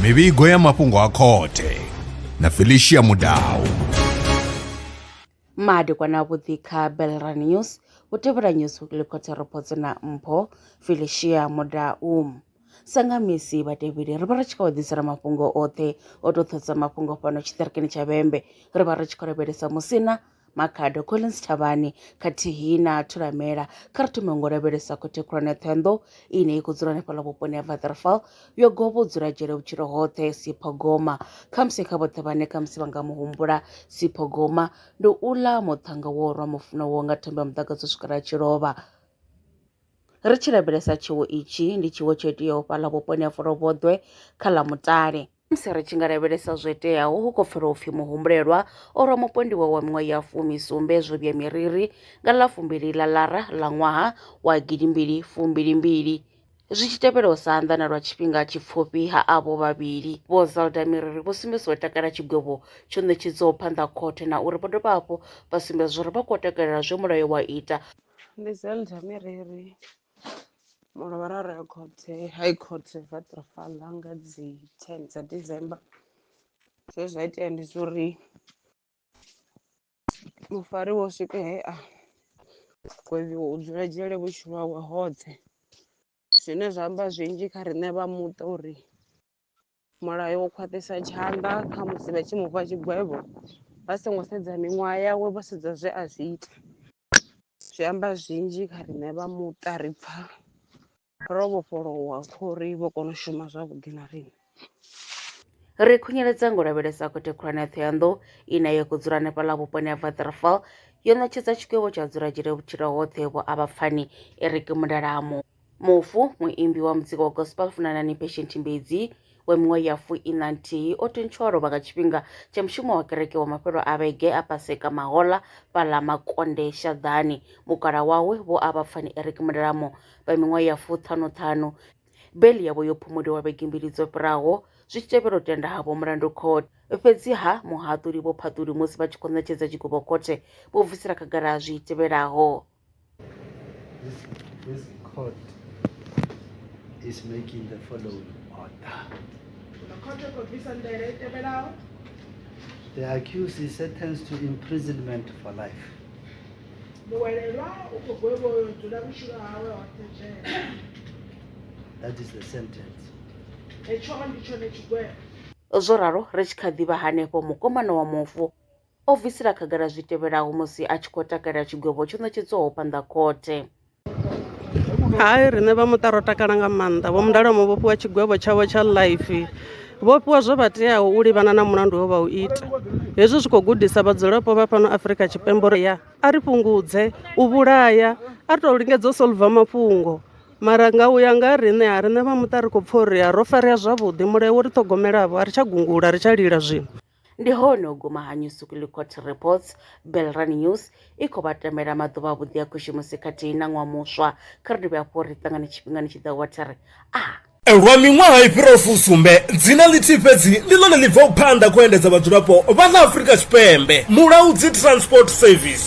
mivhigo ya mafhungo a khothe na felicia mudau madekwana avhuḓi kha belra news u tevhela news weekly khothe ropodzo na mpho felicia mudau sanga misi vhatevheli ri vha ri tshi khou ḓisela mafhungo oṱhe o to thusa mafhungo fhano tshiṱirikini tsha vhembe ri vha ri tshi khou lavhelesa musina Makhado, Collins Thavhani khathihi na Thulamela kha ri thome ngo lavhelesa khothe khulwane Ṱhohoyanḓou ine i khou dzula hanefhaḽa vhuponi ha Vatherfall yo govha u dzula dzhele vhutshilo hoṱhe Sipho Goma khamusi kha vhoṱhe vhane khamusi vha nga mu humbula Sipho Goma ndi uḽa muṱhannga wo rwa mufuno wo nga thambo ya muḓagasi u swikela tshi lovha ri tshi lavhelesa tshiwo itshi ndi tshiwo tsho iteaho fhaḽa vhuponi ha Folovhoḓwe kha ḽa Mutale Musi ri tshi nga lavhelesa zwo teaho, hu khou pfala u pfi muhumbulelwa o rwa mupondiwa wa miṅwaha ya fumi sumbe zwo vhuya miriri nga ḽa fumbili ḽa Lara ḽa ṅwaha wa gidimbili fumbili mbili. Zwi tshi tevhela u sa anḓana lwa tshifhinga tshipfufhi ha avho vhavhili, Vho Zelda Miriri vho sumbedzisa u takala tshigwevho tsho ṋetshedzwaho phanḓa ha khothe na uri vho dovha hafhu vha sumbedza uri vha khou takalela zwe mulayo wa ita. Ndi Zelda Miriri mulovhara ro ya khothe hai khothe ra ṱira fhaḽa nga dzi ten dza december zwe zwa itea ndi zwa uri mufari wo swika he a gwevhiwa u dzula dzhele vhutshilo hawe hoṱhe zwine zwa amba zwinzhi kha riṋe vha muṱa uri Mulayo u khwaṱhisa tshanḓa kha musi vha tshi mufha tshigwevho vha songo sedza miṅwaha yawe vho sedza zwe a zwi ita zwi amba zwinzhi kha riṋe vha muṱa ri pfha ro vhofholowa khouri vho kona u shuma zwavhuḓi na riṋe. Ri khunyeledza ngo lavhelesa khothe khulwane ya Thohoyandou ine ya khou dzula hanefhaḽa vhuponi ha Waterval yo ṋetshedza tshigwevho tsha dzula dzhele vhutshilo hoṱhe vho avha pfani Eric Mundalamo. Mufu, muimbi wa muzika wa gospel Funanani Patient Mbedzi wa miṅwaha ya fuiṋa nthihi o thuntshiwa lovha nga tshifhinga tsha mushumo wa kereke wa mafhelo a vhege a Paseka Mahola fhaḽa Makonde Shaḓani. Mukala wawe Vho Avhapfani Eric Mulelamo vha miṅwaha ya fuṱhanu-ṱhanu beiḽi yavho yo phumuliwa vhege mbili dzo fhiraho zwi tshi tevhela u tenda ha vho mulandu khothe. Fhedziha muhaṱuli Vho Phaṱuli musi vha tshi khou ṋetshedza tshigwevho khothe vho bvisela khagala zwi tevhelaho. This, this court is making the following order. The accused is sentenced to imprisonment for life. That is the sentence. zwo ralo ri tshi kha ḓivha hanefho mukomana wa mufu o bvisela khagala zwi tevhelaho musi a tshi khou takalela tshigwevho tsho ṋetshedzwaho phanḓa khothe. Hai, riṋe vha muṱa ro takala nga maanḓa. Vho Mundalo mo vhofhiwa tshigwevho tshavho tsha life vho fhiwa zwo vha teaho u livhana na mulandu wo vha u ita hezwi zwi khou gudisa vhadzulapo vha fhano afrika tshipembe uri ya a ri fhungudze u vhulaya a ri tou lingedza u solva mafhungo mara nga u ya nga riṋe ha riṋe vha muṱa ri khou pfha uri ro farea zwavhuḓi mulayo wo ri ṱhogomelavo a ri tsha gungula ri tsha lila zwino Ndi hone u guma ha Newsuclicourt Reports, Belrun News i khou vha tamela maḓuvha avhuḓi a Khushimusi khathihi na Ṅwaha Muswa. Kha ri dovhe hafhu ri ṱangane tshifhingani tshi ḓaho wa theri. Ah! Lwa miṅwaha i fhiraho fusumbe, dzina ḽithihi fhedzi ndi ḽone ḽi bvaho phanḓa kha u endedza vhadzulapo vha ḽa Afrika Tshipembe, Mulaudzi Transport Service.